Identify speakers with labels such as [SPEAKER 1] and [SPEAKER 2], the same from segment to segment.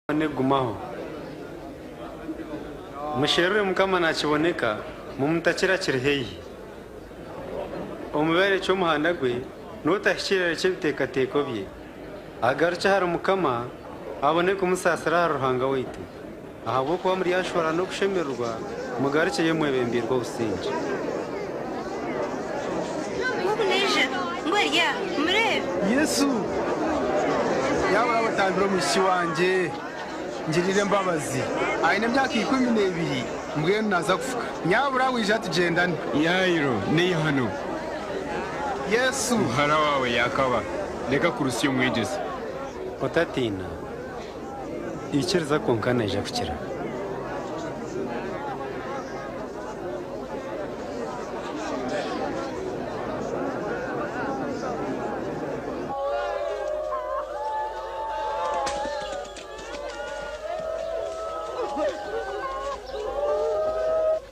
[SPEAKER 1] Mukama negumaho. Musherure Mukama nakiboneka, mumutakira kiri haihi. Omubi arekye omuhanda gwe, notahikirira arekye ebitekateko bye, agarukye ahari Mukama abone kumusaasira ahari Ruhanga waitu, ahabw'okuba muryashwara n'okushemererwa. Mugarukyeyo mwebembeirwe obusingye. Nk'oku naija, ngu ari aha, mureebe. Yesu, yaaba oraba otambire omwishiki wangye, ngirira embabazi. Aine emyaka ikumi n'ebiri, mbwenu naaza kufuka. Yaaba oraba oija tugyendane. Yairo, Naija hanu. Yesu. Muhara waawe yaakaba. Reka kurutsya Omwegyesa. Otatiina. Ikiriza kwonka naija kukira.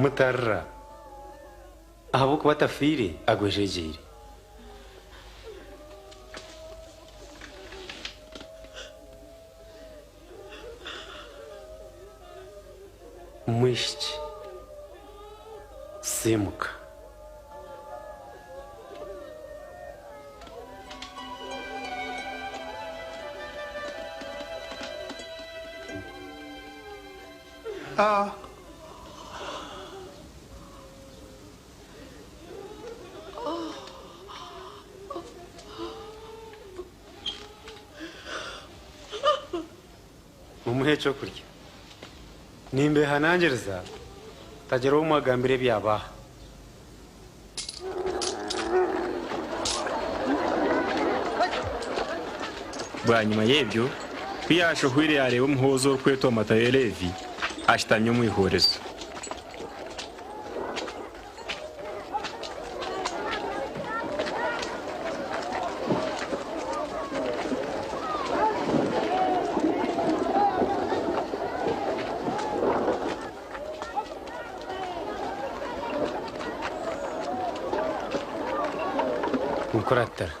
[SPEAKER 1] Mutarira ahabw'okuba atafiire agwejegyeire. Mwishiki, siimuka. mumuhe ekyokurya. Nimbeehanangiriza hatagira ou mwagambira ebyabaaha. Bwanyima y'ebyo, ku yaashohwire yaareeba omuhoozi orikwetwa Matayo Leevi ashutami omu ihorezo. Nkuratira.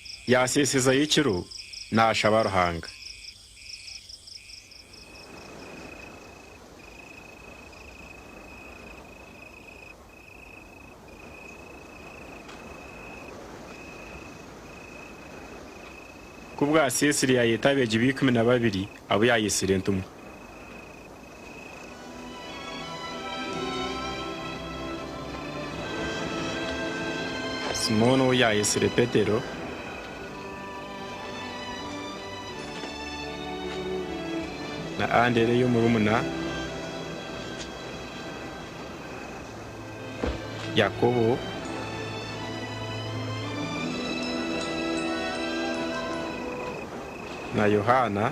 [SPEAKER 1] Yaaseesezayo ekiro naashaba Ruhanga. Ku bwaseesire yaayeeta abeegi be ikumi na babiri abu yaayetsire entumwa. Simooni ou yaayetsire Petero. Na Andereya omurumuna. Yakobo. Na Yohaana.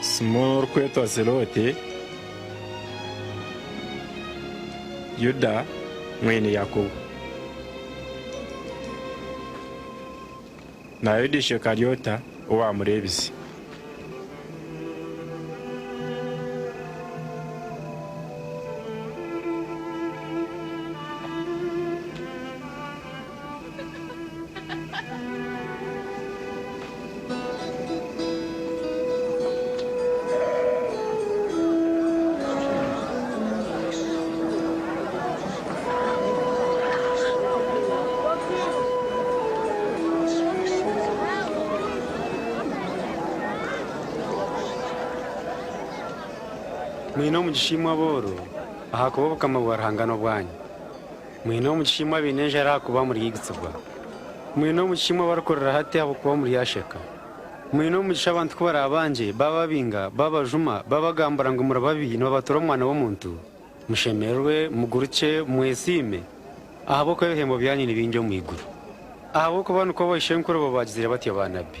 [SPEAKER 1] Simooni orikwetwa Zelote, Yuda mwene Yakobo, na Yuda Ishekaryota owaamureebize. Mwine omugisha imwe abooro, ahakuba Obukama bwa Ruhanga n'obwanyu. Mwine omugisha imwe abaine enjara ahakuba muryigitsibwa. Mwine omugisha imwe abarikurira hati ahabw'okuba muryasheka. Mwine omugisha abantu ku baraabangye, baababinga, baabajuma, baabagambura ngu muri babi nibabatura Omwana w'omuntu. Mushemererwe, mugurukye, mwesiime, ahabw'okuba ebihembo byanyu ni bingi omu iguru. Ahabw'okuba nikwo baishenkurubo baagizire batyo baanabbi.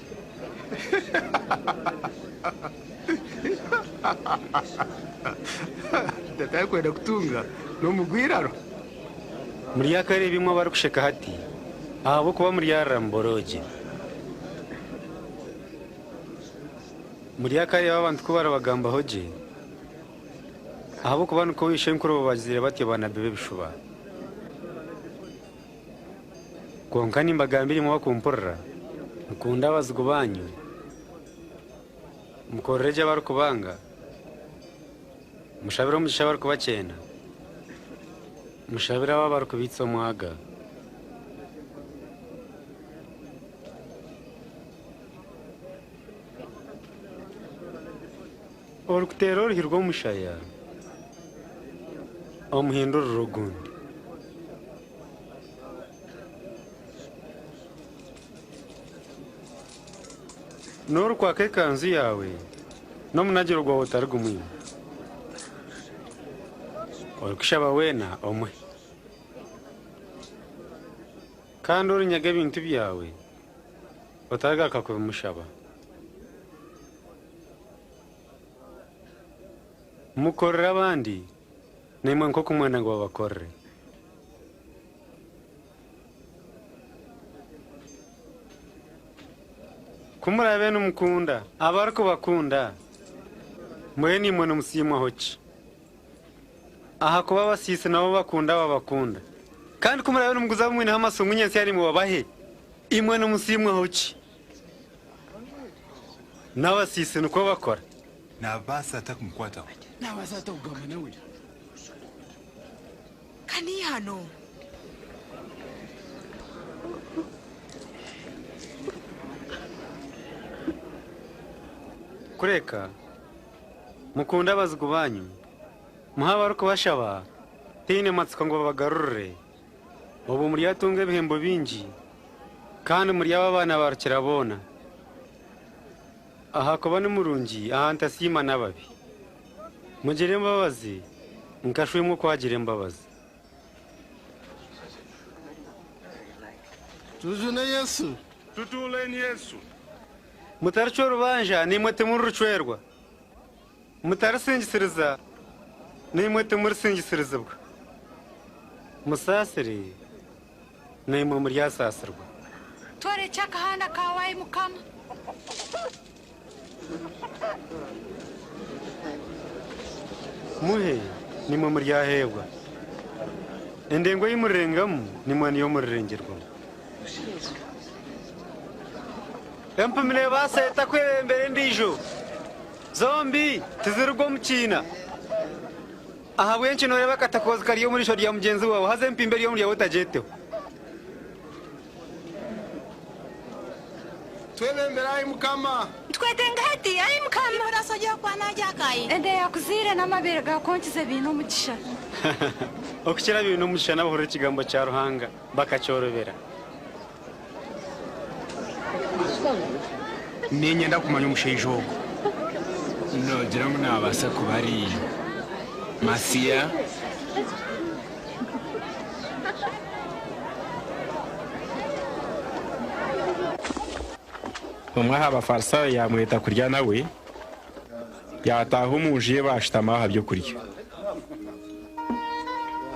[SPEAKER 1] Muryakareeba imwe abarikusheka hati, ahabw'okuba muryarira muboroogye. Muryakareeba abantu ku baribagambaho gye, ahabw'okuba nikwo baishenkurubo baagizaire batyo baanabi b'ebishuba. Kwonka nimbagambira imwe abarikumpurira, Mukundee abazigu baanyu, mukorere gye abarikubanga, mushabire omugisha abarikubakyenda, mushabire abo abarikubaitsa omwaga. Orikuteera oruhi rw'omushaya omuhindurire ogundi. N'orikwaka ekanzu yaawe n'omunagiro gwawe otari gumwine. Orikushaba weena omuhe. Kandi orinyaga ebintu byawe otaragaruka kubimushaba. Mukorere abandi, naimwe nk'oku Omwana bw'abakorire. Ku muraabe nimukunda abarikubakunda, mbwenu naimwe nimusiimwaho ki? Ahakuba abasiisi nabo bakunda ababakunda. Kandi ku muraabe nimuguza abamwineho amasungu nyentsya naimwe babahe, imwe nimusiimwaho ki? N'abasiisi nikwo bakora. Naabaasa ata kumukwataho? Naabaasa ata kugamba nawe? Ka niihano. Kureka. Mukunde abazigu baanyu. Muhe abarikubashaba. Tihaine matsiko ngu babagarurire. Obwo muryatunga ebihembo bingi, kandi muryaba abaana ba rukiraboona, ahakuba ni murungi aha ntasiima n'ababi. Mugire embabazi nka Shw'emwe oku agira embabazi. Tujune Yesu. Tutuuleeni Yesu. Mutaricwa orubanja, naimwe timuricwerwa. Mutarisingisiriza, naimwe timurisingisiriziibwa. Musaasire, naimwe muryasaasirwa. Tworekye akahanda kaawe, ai Mukama. Muhe, naimwe muryaheebwa. Endengo ei murirengamu, naimwe niyo murirengyerwamu. Empumi neebaasa eta kwebembera endiijo? Zombi tizirugwa omu kiina. Ahabw'enki nooreeba akatakoozi kari omu riisho rya mugyenzi waawe haza empimbi eri omu ryawe otagyeteho? Twebembere ai Mukama. Ntukwetenge hati, ai Mukama. Imwe orasa ogye okuba naagye akaayi. Enda eyaakuzaire n'amabeere gaakonkize biine omugisha. Okukira biine omugisha n'abahurira ekigambo kya Ruhanga bakakyorobera. Niinyenda kumanya omushaija ogwo. Noogira ngu naabaasa kuba ari Masiya? Omwe aha Bafarisaayo yaamweta kurya nawe, yaataaha omu nju ye baashutama aha by'okurya.